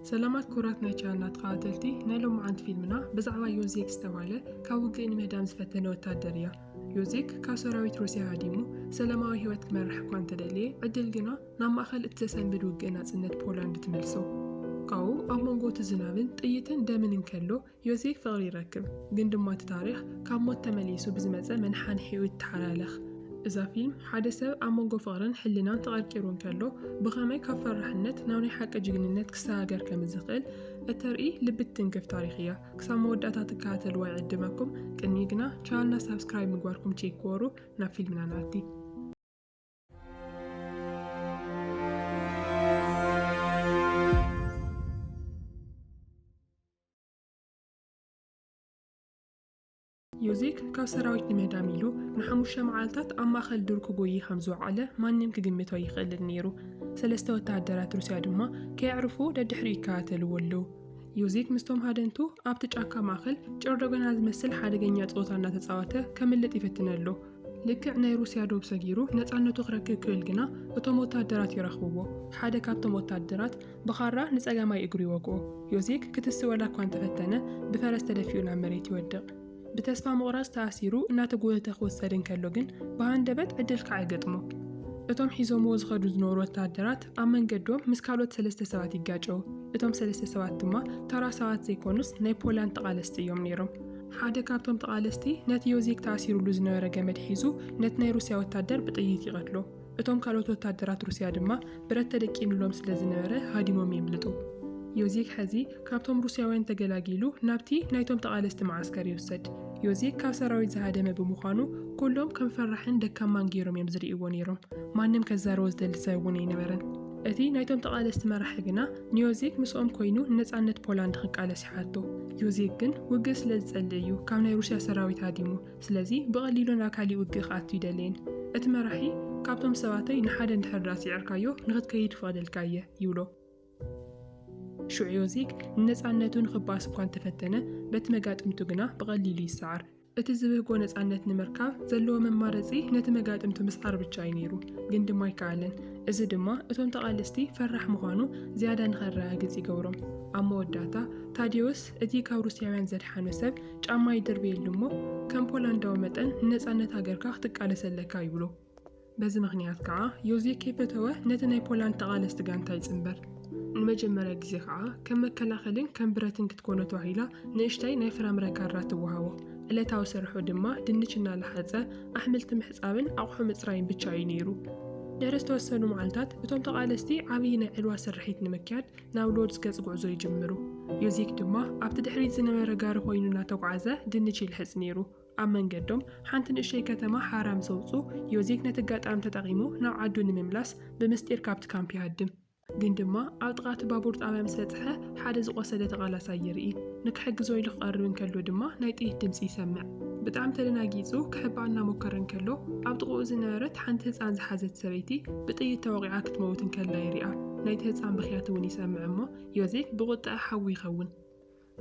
ሰላማት ኩቡራት ናይ ቻነልና ተኻታተልቲ ናይ ሎምዓንቲ ፊልምና ብዛዕባ ዮዜክ ዝተባህለ ካብ ውግእ ንምህዳም ዝፈተነ ወታደር እያ። ዮዜክ ካብ ሰራዊት ሩስያ ሃዲሙ ሰላማዊ ህይወት ክመርሕ እኳ እንተደለየ ዕድል ግና ናብ ማእኸል እቲ ዘሰንብድ ውግእ ናጽነት ፖላንድ ትመልሶ። ካብኡ ኣብ መንጎ እቲ ዝናብን ጥይትን ደምን እንከሎ ዮሴፍ ፍቕሪ ይረክብ ግን ድማ እቲ ታሪኽ ካብ ሞት ተመሊሱ ብዝመጸ መንሓንሒኡ ይተሓላለኽ። እዛ ፊልም ሓደ ሰብ ኣብ መንጎ ፍቕርን ሕልናን ተቐርቂሩ እንከሎ ብኸመይ ካብ ፈራሕነት ናብ ናይ ሓቂ ጅግንነት ክሰጋገር ከምዝኽእል እተርኢ ልቢ ትትንክፍ ታሪኽ እያ። ክሳብ መወዳእታ ትከታተልዋ ይዕድመኩም። ቅድሚኡ ግና ቻነልና ሳብስክራይብ ምግባርኩም ቼክ ግበሩ። ናብ ፊልምና ንኣቲ። ዮዜፍ ካብ ሰራዊት ንምህዳም ኢሉ ንሓሙሽተ መዓልታት ኣብ ማእኸል ዱር ክጎዪ ከም ዝወዓለ ማንም ክግምቶ ኣይኽእልን ነይሩ። ሰለስተ ወተሃደራት ሩስያ ድማ ከየዕርፉ ደድሕሪኡ ይከታተልዎ ኣለዉ። ዮዜፍ ምስቶም ሃደንቱ ኣብቲ ጫካ ማእኸል ጨርዶገና ዝመስል ሓደገኛ ፀወታ እናተፃወተ ከምልጥ ይፍትን ኣሎ። ልክዕ ናይ ሩስያ ዶብ ሰጊሩ ነጻነቱ ክረክብ ክብል ግና እቶም ወተሃደራት ይረኽብዎ። ሓደ ካብቶም ወተሃደራት ብኻራ ንጸጋማይ እግሩ ይወግኦ። ዮዜክ ክትስእ ዋላ እኳ እንተፈተነ ብፈረስ ተደፊኡ ናብ መሬት ይወድቕ። ብተስፋ ምቑራጽ ተኣሲሩ እናተጎተተ ክውሰድ እንከሎ ግን ብሃንደበት ዕድል ካዕ ይገጥሞ። እቶም ሒዞምዎ ዝኸዱ ዝነበሩ ወተሃደራት ኣብ መንገዶም ምስ ካልኦት ሰለስተ ሰባት ይጋጨዉ። እቶም ሰለስተ ሰባት ድማ ተራ ሰባት ዘይኮኑስ ናይ ፖላንድ ተቓለስቲ እዮም ነይሮም። ሓደ ካብቶም ተቓለስቲ ነቲ ዮዚክ ተኣሲሩሉ ዝነበረ ገመድ ሒዙ ነቲ ናይ ሩስያ ወታደር ብጥይት ይቐትሎ። እቶም ካልኦት ወታደራት ሩስያ ድማ ብረት ተደቂኑሎም ስለ ዝነበረ ሃዲሞም የምልጡ። ዮዚክ ሕዚ ካብቶም ሩስያውያን ተገላጊሉ ናብቲ ናይቶም ተቓለስቲ መዓስከር ይውሰድ። ዮዚክ ካብ ሰራዊት ዝሃደመ ብምዃኑ ኩሎም ከም ፈራሕን ደካማን ገይሮም እዮም ዝርእይዎ ነይሮም። ማንም ከዛርቦ ዝደሊ ሰብ እውን ኣይነበረን። እቲ ናይቶም ተቓለስቲ መራሒ ግና ንዮዚክ ምስኦም ኮይኑ ንነጻነት ፖላንድ ክቃለስ ሕቶ፣ ዮዜክ ግን ውግእ ስለ ዝጸልእ እዩ ካብ ናይ ሩስያ ሰራዊት ሃዲሙ፣ ስለዚ ብቐሊሉ ናብ ካሊእ ውግእ ክኣቱ ኣይደለየን። እቲ መራሒ፣ ካብቶም ሰባተይ ንሓደ እንድሕር ደኣ ስዒርካዮ ንኽትከይድ ይፈቕደልካ እየ፣ ይብሎ። ሽዑ ዮዜክ ንነጻነቱ ንኽበኣስ እኳ እንተፈተነ፣ በቲ መጋጥምቱ ግና ብቐሊሉ ይሰዓር። እቲ ዝብህጎ ነጻነት ንምርካብ ዘለዎ መማረጺ ነቲ መጋጥምቱ ምስዓር ብቻ እዩ ነይሩ፣ ግን ድማ ኣይከኣለን። እዚ ድማ እቶም ተቓለስቲ ፈራሕ ምዃኑ ዝያዳ ንኸረጋግጽ ይገብሮም። ኣብ መወዳእታ፣ ታዴዎስ እቲ ካብ ሩስያውያን ዘድሓኖ ሰብ ጫማ ይድርብየሉ እሞ፣ ከም ፖላንዳዊ መጠን ንነጻነት ሃገርካ ክትቃለስ ኣለካ ይብሎ። በዚ ምኽንያት ከኣ ዮዜ ከይፈተወ ነቲ ናይ ፖላንድ ተቓለስቲ ጋንታ ይጽንበር። ንመጀመርያ ግዜ ከኣ ከም መከላኸልን ከም ብረትን ክትኮኖ ተባሂላ ንእሽተይ ናይ ፍራምረ ካራ ትወሃቦ። ዕለታዊ ስርሑ ድማ ድንች እናለሓጸ፣ ኣሕምልቲ ምሕጻብን ኣቑሑ ምጽራይን ብቻ እዩ ነይሩ። ድሕሪ ዝተወሰኑ መዓልታት እቶም ተቓለስቲ ዓብዪ ናይ ዕልዋ ስርሒት ንምክያድ ናብ ሎድዝ ገጽ ጉዕዞ ይጅምሩ። ዮዜክ ድማ ኣብቲ ድሕሪት ዝነበረ ጋሪ ኮይኑ እናተጉዓዘ ድንች ይልሕጽ ነይሩ። ኣብ መንገዶም ሓንቲ ንእሸተይ ከተማ ሓራ ምስ ኣውጽኡ፣ ዮዜፍ ነቲ ኣጋጣሚ ተጠቒሙ ናብ ዓዱ ንምምላስ ብምስጢር ካብቲ ካምፕ ይሃድም። ግን ድማ ኣብ ጥቓ እቲ ባቡር ጣብያ ምስ በጽሐ ሓደ ዝቖሰለ ተቓላሳይ ይርኢ። ንክሕግዞ ኢሉ ክቐርብ እንከሎ ድማ ናይ ጥይት ድምጺ ይሰምዕ። ብጣዕሚ ተደናጊጹ ክሕባእ እናሞከረ እንከሎ ኣብ ጥቕኡ ዝነበረት ሓንቲ ህጻን ዝሓዘት ሰበይቲ ብጥይት ተወቒዓ ክትመውት እንከላ ይሪኣ። ናይቲ ህጻን ብኽያት እውን ይሰምዕ እሞ ዮዜፍ ብቑጠዐ ሓዊ ይኸውን።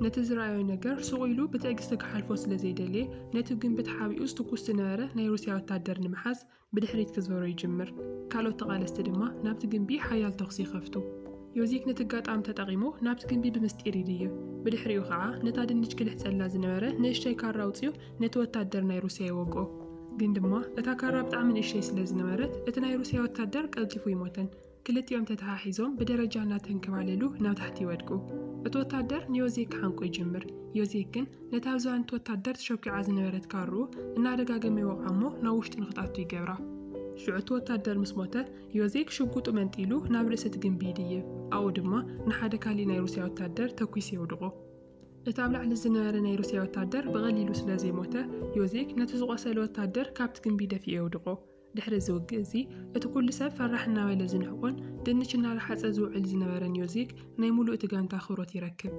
ነቲ ዝረኣዮ ነገር ሱቕ ኢሉ ብትዕግስቲ ክሓልፎ ስለ ዘይደለየ፣ ነቲ ግምቢ ተሓቢኡ ዝትኩስ ዝነበረ ናይ ሩስያ ወተሃደር ንምሓዝ ብድሕሪት ክዞሮ ይጅምር። ካልኦት ተቓለስቲ ድማ ናብቲ ግምቢ ሓያል ተኹሲ ይኸፍቱ። ዮዚክ ነቲ ኣጋጣሚ ተጠቒሙ ናብቲ ግምቢ ብምስጢር ይድይብ። ብድሕሪኡ ከኣ ነታ ድንች ክልሕጸላ ዝነበረ ንእሽተይ ካራ ኣውጺኡ ነቲ ወተሃደር ናይ ሩስያ ይወግኦ። ግን ድማ እታ ካራ ብጣዕሚ ንእሽተይ ስለ ዝነበረት እቲ ናይ ሩስያ ወተሃደር ቀልጢፉ ኣይሞተን። ክልቲኦም ተተሓሒዞም ብደረጃ እናተንከባለሉ ናብ ታሕቲ ይወድቁ። እቲ ወታደር ንዮዜ ክሓንቆ ይጅምር። ዮዜ ግን ነታ ኣብ ዝባን እቲ ወታደር ተሸኲዓ ዝነበረት ካርኡ እናደጋገመ ይወቕዓ እሞ ናብ ውሽጢ ንኽትኣቱ ይገብራ። ሽዑ እቲ ወታደር ምስ ሞተ፣ ዮዜ ሽጉጡ መንጢሉ ናብ ርእሲ እቲ ግምቢ ይድይብ። ኣብኡ ድማ ንሓደ ካልእ ናይ ሩስያ ወታደር ተኲሱ የውድቖ። እቲ ኣብ ላዕሊ ዝነበረ ናይ ሩስያ ወታደር ብቐሊሉ ስለ ዘይሞተ፣ ዮዜክ ነቲ ዝቖሰለ ወታደር ካብቲ ግምቢ ደፊኡ የውድቖ። ድሕሪ እዚ ውግእ እዚ፣ እቲ ኩሉ ሰብ ፈራሕ እናበለ ዝንዕቆን ድንች እናረሓጸ ዝውዕል ዝነበረ ኒዮዚክ ናይ ምሉእ እቲ ጋንታ ኣኽብሮት ይረክብ።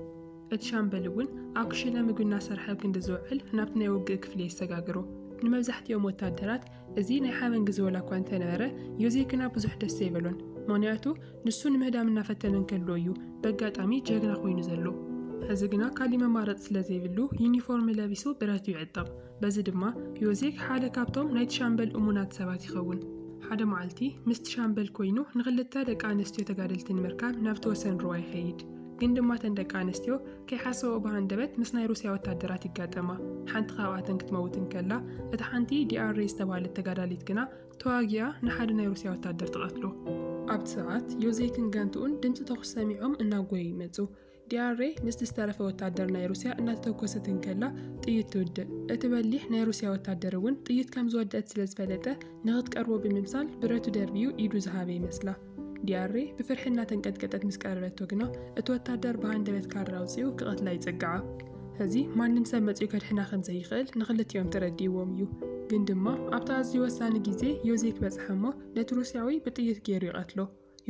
እቲ ሻምበል እውን ኣብ ክሽነ ምግቢ እናሰርሐ ኣብ ክንዲ ዝውዕል ናብቲ ናይ ውግእ ክፍሊ የሰጋግሮ። ንመብዛሕቲኦም ወተሃደራት እዚ ናይ ሓበን ግዜ ዋላ እኳ እንተነበረ፣ ዮዚክ ግና ብዙሕ ደስ ዘይበሎን። ምኽንያቱ ንሱ ንምህዳም እናፈተነ እንከሎ እዩ በጋጣሚ ጀግና ኮይኑ ዘሎ። ሕዚ ግና ካሊእ መማረጺ ስለ ዘይብሉ ዩኒፎርም ለቢሱ ብረቱ ይዕጠቕ። በዚ ድማ ዮዜፍ ሓደ ካብቶም ናይቲ ሻምበል እሙናት ሰባት ይኸውን። ሓደ መዓልቲ ምስቲ ሻምበል ኮይኑ ንኽልተ ደቂ ኣንስትዮ ተጋደልቲ ንምርካብ ናብቲ ወሰን ሩባ ይኸይድ። ግን ድማ እተን ደቂ ኣንስትዮ ከይሓሰበኦ ብሃንደበት ምስ ናይ ሩስያ ወታደራት ይጋጠማ። ሓንቲ ካብኣተን ክትመውት እንከላ እታ ሓንቲ ዲኣሬ ዝተባህለት ተጋዳሊት ግና ተዋጊኣ ንሓደ ናይ ሩስያ ወታደር ትቐትሎ። ኣብቲ ሰዓት ዮዜፍን ጋንትኡን ድምጺ ተኹሲ ሰሚዖም እናጎዩ ይመጹ። ዲያሬ ምስቲ ዝተረፈ ወታደር ናይ ሩስያ እናተተኮሰት እንከላ ጥይት ትውድእ። እቲ በሊሕ ናይ ሩስያ ወታደር እውን ጥይት ከም ዝወደእት ስለ ዝፈለጠ ንኽትቀርቦ ብምምሳል ብረቱ ደርብዩ ኢዱ ዝሃበ ይመስላ። ዲያሬ ብፍርሒ እናተንቀጥቀጠት ምስ ቀረበቶ ግና እቲ ወታደር ብሃንደበት ካራ ኣውጺኡ ክቐትላ ይጽግዓ። ሕዚ ማንም ሰብ መጺኡ ከድሕና ከም ዘይኽእል ንኽልቲኦም ተረዲእዎም እዩ። ግን ድማ ኣብቲ ኣዝዩ ወሳኒ ግዜ ዮዜክ በጽሐ እሞ ነቲ ሩስያዊ ብጥይት ገይሩ ይቐትሎ።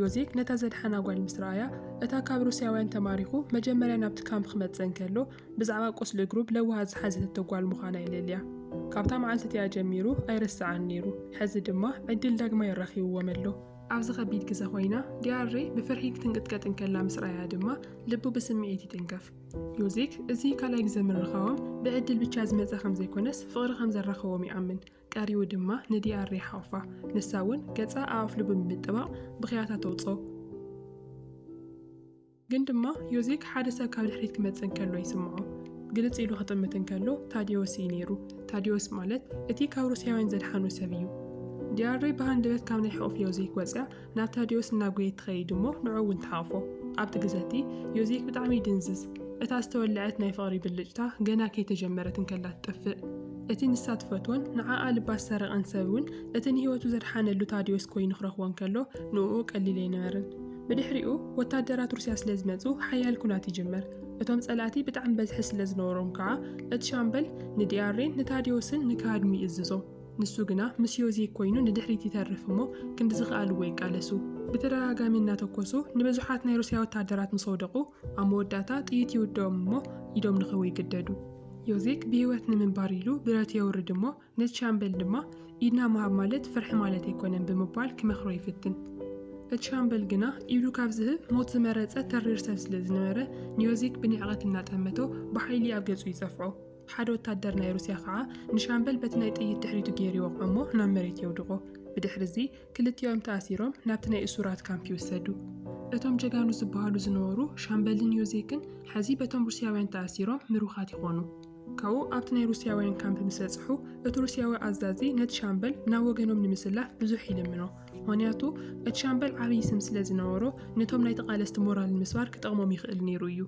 ዮዜፍ ነታ ዘድሓና ጓል ምስ ረኣያ፣ እታ ካብ ሩስያውያን ተማሪኹ መጀመርያ ናብቲ ካምፕ ክመጽእ እንከሎ ብዛዕባ ቁስሊ እግሩ ብለውሃት ዝሓዘተቶ ጓል ምዃና የለልያ። ካብታ መዓልቲ እቲኣ ጀሚሩ ኣይርስዓን ነይሩ፣ ሕዚ ድማ ዕድል ዳግማይ ኣራኺብዎም ኣሎ። ኣብዚ ከቢድ ግዘ ኮይና ዲያርሬ ብፍርሒ ክትንቅጥቀጥ እንከላ ምስ ረኣያ ድማ ልቡ ብስምዒት ይትንከፍ። ዮዜክ እዚ ካልኣይ ግዘ ምርኻቦም ብዕድል ብቻ ዝመጸ ከምዘይኮነስ ፍቕሪ ከምዘራኸቦም ይኣምን። ቀሪቡ ድማ ንዲኣር ይሓቑፋ። ንሳ እውን ገጻ ኣኣፍሉ ብምጥባቕ ብኽያታ ተውጽኦ። ግን ድማ ዮዜክ ሓደ ሰብ ካብ ድሕሪት ክመጽእ እንከሎ ይስምዖ። ግልጽ ኢሉ ክጥምት እንከሎ ታድዮስ እዩ ነይሩ። ታድዮስ ማለት እቲ ካብ ሩስያውያን ዘድሓኑ ሰብ እዩ። ዲኣሬ ብሃንደበት ካብ ናይ ሕቑፍ ዮዜክ ወጽያ ናብ ታድዮስ እናጎየት ትኸይድ እሞ ንዕኡ እውን ትሓቕፎ። ኣብቲ ግዘ እቲ ዮዜክ ብጣዕሚ ይድንዝዝ። እታ ዝተወለዐት ናይ ፍቕሪ ብልጭታ ገና ከይተጀመረት እንከላ ትጠፍእ። እቲ ንሳ ትፈትዎን ንዓኣ ልባ ዝሰረቐን ሰብ እውን እቲ ንህይወቱ ዘድሓነሉ ታድዮስ ኮይኑ ክረኽቦ እንከሎ ንኡኡ ቀሊል ኣይነበረን። ብድሕሪኡ ወታደራት ሩስያ ስለ ዝመጹ ሓያል ኩናት ይጅመር። እቶም ጸላእቲ ብጣዕሚ በዝሒ ስለ ዝነበሮም ከዓ እቲ ሻምበል ንዲኣሬን ንታድዮስን ንክሃድሙ ይእዝዞም። ንሱ ግና ምስ ዮዜ ኰይኑ ንድሕሪት ይተርፍ እሞ ክንዲ ዝኸኣልዎ ይቃለሱ። ብተደጋጋሚ እናተኰሱ ንብዙሓት ናይ ሩስያ ወተሃደራት ምስ ኣውደቑ፣ ኣብ መወዳእታ ጥይት ይውድኦም እሞ ኢዶም ንኽህቡ ይግደዱ። ዮዜክ ብህይወት ንምንባር ኢሉ ብረት የውርድ እሞ ነቲ ሻምበል ድማ ኢድና ምሃብ ማለት ፍርሒ ማለት ኣይኰነን ብምባል ክመኽሮ ይፍትን። እቲ ሻምበል ግና ኢዱ ካብ ዝህብ ሞት ዝመረጸ ተሪር ሰብ ስለ ዝነበረ ንዮዜክ ብንዕቀት እናጠመቶ ብሓይሊ ኣብ ገጹ ይጸፍዖ። ሓደ ወታደር ናይ ሩስያ ኸኣ ንሻምበል በቲ ናይ ጥይት ድሕሪቱ ገይሩ ይወቕዖ'ሞ ናብ መሬት የውድቖ። ብድሕሪ'ዚ ክልቲኦም ተኣሲሮም ናብቲ ናይ እሱራት ካምፕ ይውሰዱ። እቶም ጀጋኑ ዝበሃሉ ዝነበሩ ሻምበልን ዮዜክን ሕዚ በቶም ሩስያውያን ተኣሲሮም ምሩኻት ይኾኑ። ካብኡ ኣብቲ ናይ ሩስያውያን ካምፕ ምስ በጽሑ እቲ ሩስያዊ ኣዛዚ ነቲ ሻምበል ናብ ወገኖም ንምስላፍ ብዙሕ ይልምኖ። ምክንያቱ እቲ ሻምበል ዓብዪ ስም ስለ ዝነበሮ ነቶም ናይ ተቓለስቲ ሞራል ንምስባር ክጠቕሞም ይኽእል ነይሩ እዩ።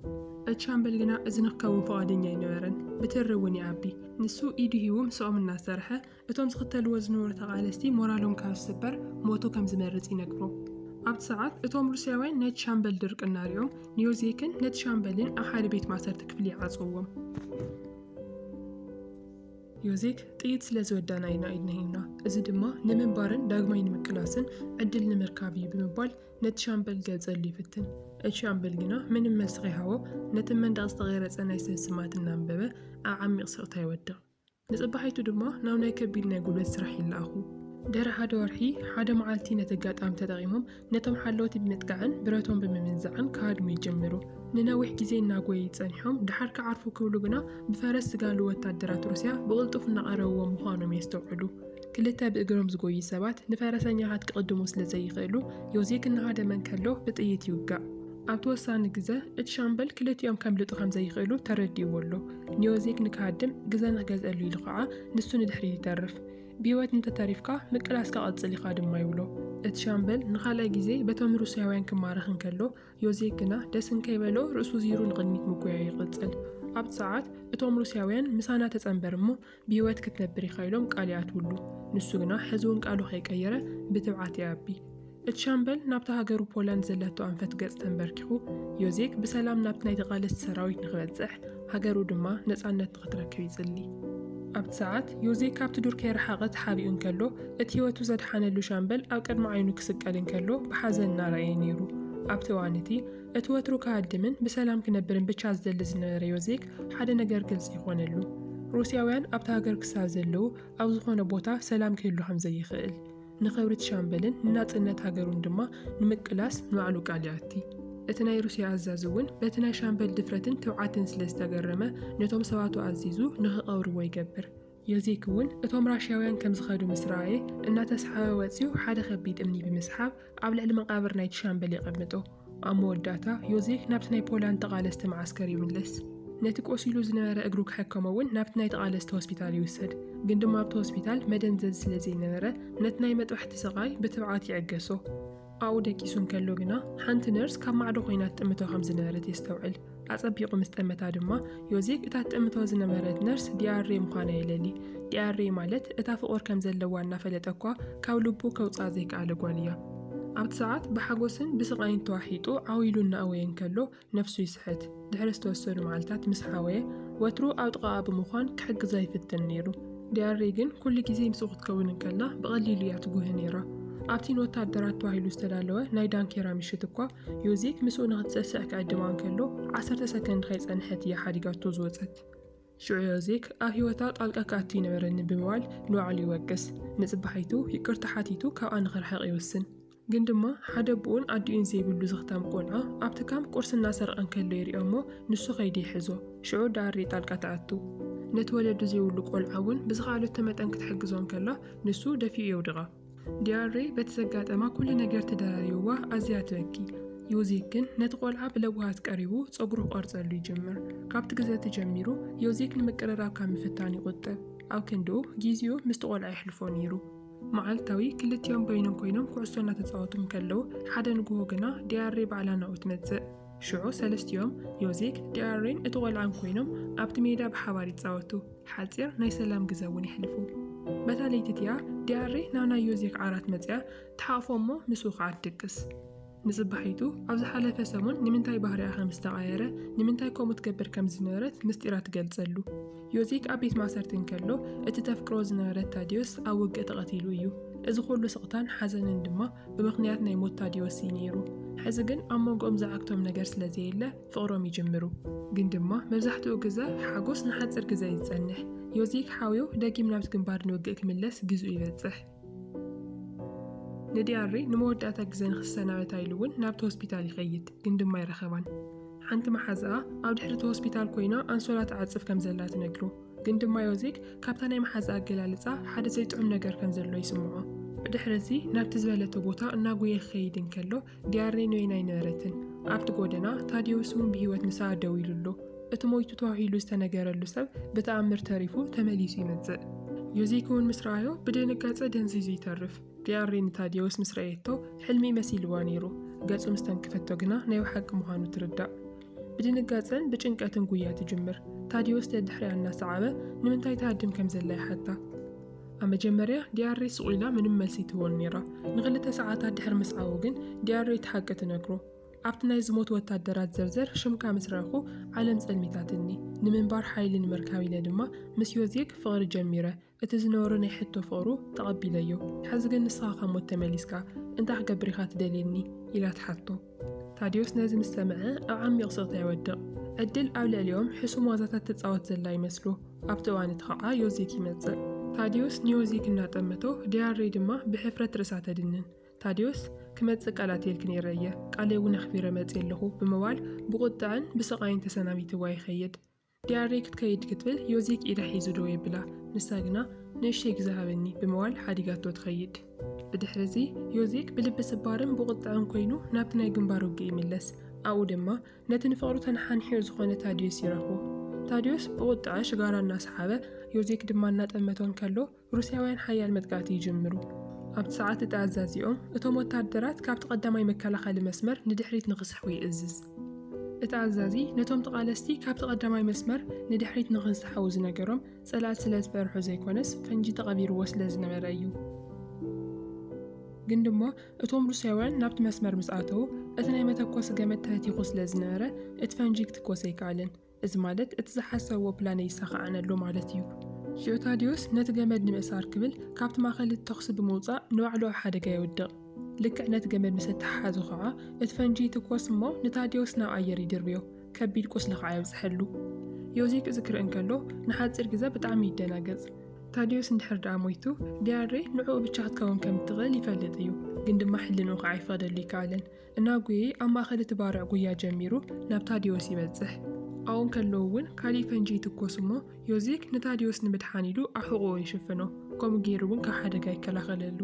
እቲ ሻምበል ግና እዚ ንክከውን ፍቓደኛ ኣይነበረን፣ ብትሪ እውን ይኣቢ። ንሱ ኢዱ ሂቡ ምስኦም እናሰርሐ እቶም ዝኽተልዎ ዝነበሩ ተቓለስቲ ሞራሎም ካብ ዝስበር ሞቱ ከም ዝመርፅ ይነግሮም። ኣብቲ ሰዓት እቶም ሩስያውያን ናይቲ ሻምበል ድርቅና ሪኦም ንዮዜክን ነቲ ሻምበልን ኣብ ሓደ ቤት ማእሰርቲ ክፍሊ ይዓፅውዎም። ዮዜክ ጥይት ስለ ዝወዳእና ኢና ኢድና ሂብና፣ እዚ ድማ ንምንባርን ዳግማይ ንምቅላስን ዕድል ንምርካብ እዩ ብምባል ነቲ ሻምበል ክገልጸሉ ይፍትን። እቲ ሻምበል ግና ምንም መልሲ ከይሃቦ ነቲ ብ መንደቕ ዝተቐረጸ ናይ ሰብ ስማት እናንበበ ኣብ ዓሚቕ ስቕታ ይወድቕ። ንጽባሒቱ ድማ ናብ ናይ ከቢድ ናይ ጉልበት ስራሕ ይለኣኹ። ድሕሪ ሓደ ወርሒ ሓደ መዓልቲ ነቲ ኣጋጣሚ ተጠቒሞም ነቶም ሓለውቲ ብምጥቃዕን ብረቶም ብምምንዛዕን ክሃድሙ ይጅምሩ። ንነዊሕ ግዜ እናጎየዩ ጸኒሖም ደሓር ክዓርፉ ክብሉ ግና ብፈረስ ዝጋልቡ ወታደራት ሩስያ ብቕልጡፍ እናቐረብዎም ምዃኖም የስተውዕሉ። ክልተ ብእግሮም ዝጎዩ ሰባት ንፈረሰኛታት ክቕድሙ ስለ ዘይኽእሉ፣ ዮዜክ እናሃደመ እንከሎ ብጥይት ይውጋእ። ኣብቲ ወሳኒ ግዘ እቲ ሻምበል ክልቲኦም ከምልጡ ከም ዘይኽእሉ ተረዲእዎ ኣሎ። ንዮዜክ ንክሃድም ግዘ ንክገዝኣሉ ኢሉ ከኣ ንሱ ንድሕሪት ይተርፍ። ብህይወት እንተተሪፍካ ምቅላስካ ቀጽል ኢኻ ድማ ይብሎ። እቲ ሻምበል ንኻልኣይ ግዜ በቶም ሩስያውያን ክማረኽ እንከሎ፣ ዮዜክ ግና ደስ እንከይበሎ ርእሱ ዝይሩ ንቕድሚት ምጉያዩ ይቕጽል። ኣብቲ ሰዓት እቶም ሩስያውያን ምሳና ተጸንበር እሞ ብህይወት ክትነብር ኢኻ ኢሎም ቃል ይኣትውሉ። ንሱ ግና ሕዚ'ውን ቃሉ ከይቀየረ ብትብዓት ይኣቢ። እቲ ሻምበል ናብታ ሃገሩ ፖላንድ ዘለቶ ኣንፈት ገጽ ተንበርኪኹ፣ ዮዜክ ብሰላም ናብቲ ናይ ተቓለስቲ ሰራዊት ንኽበጽሕ፣ ሃገሩ ድማ ነጻነት ንኽትረክብ ይጽሊ። ኣብቲ ሰዓት፣ ዮዜክ ካብቲ ዱር ከይረሓቐ ተሓቢኡ እንከሎ፣ እቲ ህይወቱ ዘድሓነሉ ሻምበል ኣብ ቅድሚ ዓይኑ ክስቀል እንከሎ ብሓዘን እናረኣየ ነይሩ። ኣብቲ እዋን እቲ፣ እቲ ወትሩ ክሃድምን ብሰላም ክነብርን ብቻ ዝደሊ ዝነበረ ዮዜክ፣ ሓደ ነገር ግልጺ ኮነሉ። ሩስያውያን ኣብታ ሃገር ክሳብ ዘለዉ፣ ኣብ ዝኾነ ቦታ ሰላም ክህሉ ከምዘይክእል። ንኽብሪት ሻምበልን ንናጽነት ሃገሩን ድማ ንምቅላስ ንባዕሉ ቃል ይኣቲ። እቲ ናይ ሩስያ ኣዛዚ እውን በቲ ናይ ሻምበል ድፍረትን ትብዓትን ስለ ዝተገረመ ነቶም ሰባቱ ኣዚዙ ንኽቐብርዎ ይገብር። የዜክ እውን እቶም ራሽያውያን ከም ዝኸዱ ምስ ረኣየ እናተስሓበ ወጺኡ ሓደ ከቢድ እምኒ ብምስሓብ ኣብ ልዕሊ መቓብር ናይቲ ሻምበል የቐምጦ። ኣብ መወዳእታ ዮዜፍ ናብቲ ናይ ፖላንድ ተቓለስቲ መዓስከር ይምለስ። ነቲ ቆሲሉ ዝነበረ እግሩ ክሕከሞ እውን ናብቲ ናይ ተቓለስቲ ሆስፒታል ይውሰድ። ግን ድማ ኣብቲ ሆስፒታል መደንዘዚ ስለ ዘይነበረ ነቲ ናይ መጥባሕቲ ስቓይ ብትብዓት ይዕገሶ። ኣብኡ ደቂሱ እንከሎ ግና ሓንቲ ነርስ ካብ ማዕዶ ኮይና ትጥምቶ ከም ዝነበረት የስተውዕል። ኣጸቢቑ ምስ ጠመታ ድማ ዮዜፍ እታ ትጥምቶ ዝነበረት ነርስ ዲያሬ ምዃና የለሊ። ዲያሬ ማለት እታ ፍቑር ከም ዘለዋ እናፈለጠ እኳ ካብ ልቡ ከውጽኣ ዘይከኣለ ጓል እያ። ኣብቲ ሰዓት ብሓጎስን ብስቓይን ተዋሒጡ ዓው ኢሉ እናእወየ እንከሎ ነፍሱ ይስሕት። ድሕሪ ዝተወሰኑ መዓልታት ምስ ሓወየ ወትሩ ኣብ ጥቓኣ ብምዃን ክሕግዛ ይፍትን ነይሩ። ዲያሬ ግን ኩሉ ግዜ ምስኡ ክትከውን እንከላ ብቐሊሉ እያ ትጉህ ነይራ። ኣብቲ ንወተሃደራት ተባሂሉ ዝተዳለወ ናይ ዳንኬራ ምሽት እኳ ዮዜክ ምስኡ ንኽትሰስዕ ክዕድማ እንከሎ፣ ዓሰርተ ሰከንድ ከይጸንሐት እያ ሓዲጋቶ ዝወጸት። ሽዑ ዮዜክ ኣብ ህይወታ ጣልቃ ክኣቱ ኣይነበረንን ብምባል ንባዕሉ ይወቅስ። ንጽባሒቱ ይቅርታ ሓቲቱ ካብኣ ንኽርሕቕ ይውስን። ግን ድማ ሓደ ኣቦኡን ኣዲኡን ዘይብሉ ዝኽታም ቆልዓ ኣብቲ ካምፕ ቁርሲ እናሰርቐ እንከሎ ይሪኦ'ሞ ንሱ ከይዱ ይሕዞ። ሽዑ ዳሪ ጣልቃ ትኣቱ። ነቲ ወለዱ ዘይብሉ ቆልዓ እውን ብዝኸኣለቶ መጠን ክትሕግዞ እንከላ ንሱ ደፊኡ የውድቓ። ዲያሬ በቲ ዘጋጠማ ኩሉ ነገር ተደራሪቡዋ ኣዝያ ትበኪ። ዮዜክ ግን ነቲ ቆልዓ ብለውሃት ቀሪቡ ጸጉሩ ክቆርጸሉ ይጅምር። ካብቲ ግዘ እቲ ጀሚሩ ዮዜክ ንምቅርራብ ካብ ምፍታን ይቑጠብ። ኣብ ክንድኡ ጊዜኡ ምስቲ ቆልዓ የሕልፎ ነይሩ። መዓልታዊ ክልቲኦም በይኖም ኮይኖም ኩዕሶ እናተጻወቱ እንከለዉ ሓደ ንግሆ ግና ዲያሬ ባዕላ ናብኡ ትመጽእ። ሽዑ ሰለስቲኦም፣ ዮዜክ፣ ዲኣሬን እቲ ቈልዓን ኰይኖም ኣብቲ ሜዳ ብሓባር ይጻወቱ፣ ሓጺር ናይ ሰላም ግዘ እውን የሕልፉ። በታ ለይቲ እቲኣ ዲኣሬ ናብ ናይ ዮዜክ ዓራት መጺኣ ትሓቕፎ እሞ ምስኡ ኸኣ ትድቅስ። ንጽባሒቱ ኣብ ዝሓለፈ ሰሙን ንምንታይ ባህሪኣ ከም ዝተቓየረ፣ ንምንታይ ከምኡ ትገብር ከም ዝነበረት ምስጢራ ትገልጸሉ። ዮሴክ ኣብ ቤት ማእሰርቲ እንከሎ፣ እቲ ተፍቅሮ ዝነበረት ታድዮስ ኣብ ውግእ ተቐቲሉ እዩ። እዚ ኹሉ ስቕታን ሓዘንን ድማ ብምኽንያት ናይ ሞት ታድዮስ እዩ ነይሩ። ሕዚ ግን ኣብ መንጎኦም ዝዓግቶም ነገር ስለ ዘየለ ፍቕሮም ይጅምሩ። ግን ድማ መብዛሕትኡ ግዘ ሓጎስ ንሓፂር ግዘ እዩ ዝፀንሕ። ዮሴክ ሓውዮ ደጊም ናብቲ ግንባር ንውግእ ክምለስ ግዝኡ ይበፅሕ። ንዲያሪ ንመወዳእታ ግዘ ንክሰናበታ ኢሉ እውን ናብቲ ሆስፒታል ይኸይድ፣ ግን ድማ ኣይረኸባን። ሓንቲ መሓዝኣ ኣብ ድሕሪ እቲ ሆስፒታል ኮይና ኣንሶላ ትዓፅፍ ከም ዘላ ትነግሮ፣ ግን ድማ ዮዜክ ካብታ ናይ መሓዝኣ ኣገላልፃ ሓደ ዘይጥዑም ነገር ከም ዘሎ ይስምዖ። ብድሕሪ እዚ ናብቲ ዝበለቶ ቦታ እናጎየ ክኸይድ እንከሎ ዲያሬ ኖይን ኣይነበረትን። ኣብቲ ጎደና ታዴዎስ እውን ብህይወት ምሳኣ ደው ኢሉ ኣሎ። እቲ ሞይቱ ተዋሂሉ ዝተነገረሉ ሰብ ብተኣምር ተሪፉ ተመሊሱ ይመጽእ። ዮዜክ እውን ምስ ረኣዮ ብድንጋጸ ደንዚዙ ይተርፍ። ዲያሬ ንታዴዎስ ምስ ረኣየቶ ሕልሚ መሲልዋ ነይሩ። ገጹ ምስ ተንከፈቶ ግና ናይ ብሓቂ ምዃኑ ትርዳእ። ብድንጋጸን ብጭንቀትን ጉያ ትጅምር። ታዴዎስ ደድሕሪኣ እናሰዓበ ንምንታይ ትሃድም ከም ዘላ ይሓታ። ኣብ መጀመርያ ዲያረይ ስቕ ኢላ ምንም መልሲ ትህቦን ነይራ። ንኽልተ ሰዓታት ድሕሪ ምስዓቡ ግን ዲያረይ እቲ ሓቂ ትነግሮ። ኣብቲ ናይ ዝሞቱ ወታደራት ዘርዘር ሽምካ ምስ ረእኹ ዓለም ጸልሚታትኒ። ንምንባር ሓይሊ ንምርካብ ኢለ ድማ ምስ ዮዜግ ፍቕሪ ጀሚረ። እቲ ዝነበሮ ናይ ሕቶ ፍቕሩ ተቐቢለዮ። ሕዚ ግን ንስኻ ካብ ሞት ተመሊስካ እንታይ ክገብር ኢኻ ትደልየኒ? ኢላ ትሓቶ። ታድዮስ ነዚ ምስ ሰምዐ ኣብ ዓሚቕ ስቕታ ይወድቕ። ዕድል ኣብ ልዕሊኦም ሕሱም ዋዛታት ትጻወት ዘላ ይመስሎ። ኣብቲ እዋን እቲ ኸኣ ዮዚክ ይመጽእ። ታድዮስ ንዮዚክ እናጠመቶ፣ ዲያርደይ ድማ ብሕፍረት ርእሳ ተድንን። ታድዮስ፣ ክመጽእ ቃል ኣትየልኪ ነይረ እየ፣ ቃለይ'ውን ኣኽቢረ መጺኤ ኣለኹ፣ ብምባል ብቑጥዐን ብስቓይን ተሰናቢትዋ ይኸይድ። ዲያሪ ክትከይድ ክትብል ዮዚክ ኢዳ ሒዙ ደው የብላ፣ ንሳ ግና ንእሽተይ ግዘ ሃበኒ ብምባል ሓዲጋቶ ትኸይድ። ብድሕሪ'ዚ ዮዚክ ብልቢ ስባርን ብቑጥዐን ኮይኑ ናብቲ ናይ ግንባር ውግእ ይምለስ፣ ኣብኡ ድማ ነቲ ንፍቕሩ ተነሓኒሕኡ ዝኾነ ታድዮስ ይረኽቦ። ታድዮስ ብቑጥዐ ሽጋራ እናሰሓበ ዮዚክ ድማ እናጠመቶ እንከሎ፣ ሩስያውያን ሓያል መጥቃዕቲ ይጅምሩ። ኣብቲ ሰዓት እቲ ኣዛዚኦም እቶም ወተሃደራት ካብቲ ቀዳማይ መከላኸሊ መስመር ንድሕሪት ንኽስሕቡ ይእዝዝ። እቲ ኣዛዚ ነቶም ተቓለስቲ ካብቲ ቀዳማይ መስመር ንድሕሪት ንኽንስሓቡ ዝነገሮም ጸላእቲ ስለ ዝፈርሑ ዘይኮነስ ፈንጂ ተቐቢርዎ ስለ ዝነበረ እዩ። ግን ድማ እቶም ሩስያውያን ናብቲ መስመር ምስ ኣተዉ እቲ ናይ መተኮሲ ገመድ ተህቲኹ ስለ ዝነበረ እቲ ፈንጂ ክትኮስ ኣይከኣለን። እዚ ማለት እቲ ዝሓሰብዎ ፕላነይ ይሳኻዕን ኣሎ ማለት እዩ። ሽዑ ታድዮስ ነቲ ገመድ ንምእሳር ክብል ካብቲ ማእከል እቲ ተኹሲ ብምውጻእ ንባዕሉ ኣብ ሓደጋ የውድቕ። ልክዕ ነቲ ገመድ ምስ እተሓሓዞ ከኣ እቲ ፈንጂ ይትኮስ እሞ ንታድዮስ ናብ ኣየር ይድርብዮ፣ ከቢድ ቁስሊ ከኣ የብጽሐሉ። ዮዚክ እዚ ክርኢ እንከሎ ንሓጺር ግዘ ብጣዕሚ ይደናገጽ። ታድዮስ እንድሕር ደኣ ሞይቱ ዲያሬ ንዕኡ ብቻ ክትከውን ከም እትኽእል ይፈልጥ እዩ፣ ግን ድማ ሕልንኡ ከኣ ይፈቕደሉ ኣይከኣለን። እናጎየ ኣብ ማእከል እቲ ባርዕ ጉያ ጀሚሩ ናብ ታድዮስ ይበጽሕ። ኣብኡ እንከለዉ እውን ካልእ ፈንጂ ይትኮስ እሞ ዮዜክ ንታድዮስ ንምድሓን ኢሉ ኣብ ሕቖኡ ይሽፍኖ። ከምኡ ገይሩ እውን ካብ ሓደጋ ይከላኸለሉ።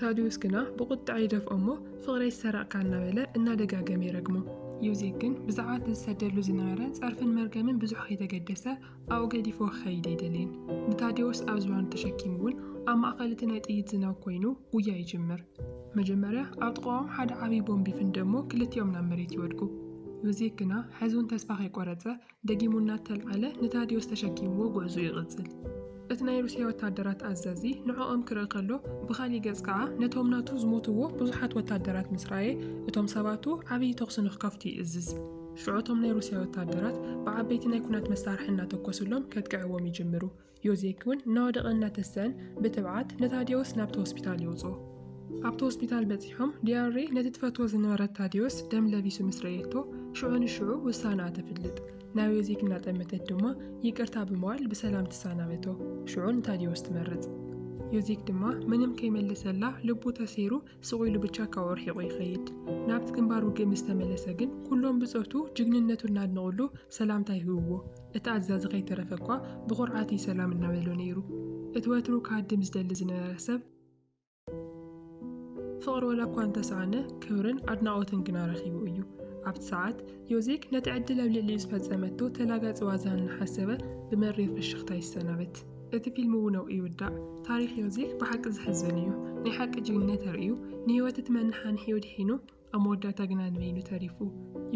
ታድዮስ ግና ብቑጥዐ ይደፍኦ እሞ ፍቕረይ ዝሰረቕካ እናበለ እናደጋገመ ይረግሞ። ዮዜክ ግን ብዛዕባ እቲ ዝሰደሉ ዝነበረ ጸርፍን መርገምን ብዙሕ ከይተገደሰ፣ ኣብኡ ገዲፎ ክኸይድ ኣይደልይን። ንታዴዎስ ኣብ ዝባኑ ተሸኪሙ እውን ኣብ ማእኸል እቲ ናይ ጥይት ዝናብ ኮይኑ ጉያ ይጅምር። መጀመርያ ኣብ ጥቓኦም ሓደ ዓብዪ ቦምብ ይፍንድእ እሞ ክልቲኦም ናብ መሬት ይወድቁ። ዮዜፍ ግና ሕዚ እውን ተስፋ ከይቆረፀ ደጊሙ እናተልዓለ ንታዴዎስ ተሸኪምዎ ጉዕዝኡ ይቕፅል። እቲ ናይ ሩስያ ወታደራት ኣዛዚ ንዕኦም ክርኢ ከሎ ብኻሊእ ገፅ ከዓ ነቶም ናቱ ዝሞትዎ ብዙሓት ወታደራት ምስ ረኣየ እቶም ሰባቱ ዓብዪ ተኹሲ ንክከፍቱ ይእዝዝ። ሽዑ እቶም ናይ ሩስያ ወተሃደራት ብዓበይቲ ናይ ኩናት መሳርሒ እናተኮሱሎም ከጥቅዕዎም ይጅምሩ። ዮዜክ እውን እናወደቐን እናተሰአን ብትብዓት ንታዲዮስ ናብቲ ሆስፒታል የውፅኦ። ኣብቲ ሆስፒታል በፂሖም ዲያሬ ነቲ ትፈትዎ ዝነበረት ታዲዮስ ደም ለቢሱ ምስ ረእየቶ ሽዑ ንሽዑ ውሳነኣ ተፍልጥ። ናብ ዮዜክ እናጠመተት ድማ ይቅርታ ብምባል ብሰላም ትሰናበቶ። ሽዑ ንታዲዮስ ትመርፅ። ዮዜክ ድማ ምንም ከይመለሰላ ልቡ ተሰይሩ ስቕ ኢሉ ብቻ ካብኡ ርሒቑ ይኸይድ። ናብቲ ግንባር ውግእ ምስ ተመለሰ ግን ኩሎም ብጾቱ ጅግንነቱ እናድነቑሉ ሰላምታ ይህብዎ። እቲ ኣዛዚ ከይተረፈ እኳ ብኹርዓት እዩ ሰላም እናበሎ ነይሩ። እቲ ወትሩ ክሃድም ዝደሊ ዝነበረ ሰብ፣ ፍቕሪ ወላ እኳ እንተሰኣነ ክብርን ኣድናቖትን ግና ረኺቡ እዩ። ኣብቲ ሰዓት ዮዜክ ነቲ ዕድል ኣብ ልዕሊኡ ዝፈጸመቶ ተላጋጺ ዋዛ እናሓሰበ ብመሪር ፍሽኽታ ይሰናበት። እቲ ፊልም እውን ኣብኡ ይውዳእ። ታሪኽ ዮዜፍ ብሓቂ ዘሕዝን እዩ። ናይ ሓቂ ጅግንነት ኣርእዩ፣ ንህይወት እቲ መነሓንሒኡ ኣድሒኑ፣ ኣብ መወዳእታ ግና ንበይኑ ተሪፉ።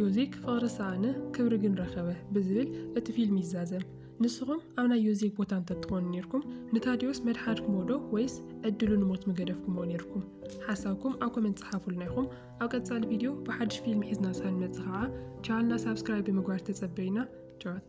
ዮዜክ ፍቕሪ ሰኣነ ክብሪ ግን ረኸበ ብዝብል እቲ ፊልም ይዛዘም። ንስኹም ኣብ ናይ ዮዜክ ቦታ እንተትኾኑ ኔርኩም ንታድዮስ መድሓድክሞ ዶ ወይስ ዕድሉ ንሞት ምገደፍክሞ ኔርኩም? ሓሳብኩም ኣብ ኮመንት ጸሓፉልና ኢኹም። ኣብ ቀጻሊ ቪድዮ ብሓድሽ ፊልም ሒዝና እስኻ ንመጽእ ኸኣ ቻነልና ሳብስክራይብ ብምግባር ተጸበዩና። ጨዋት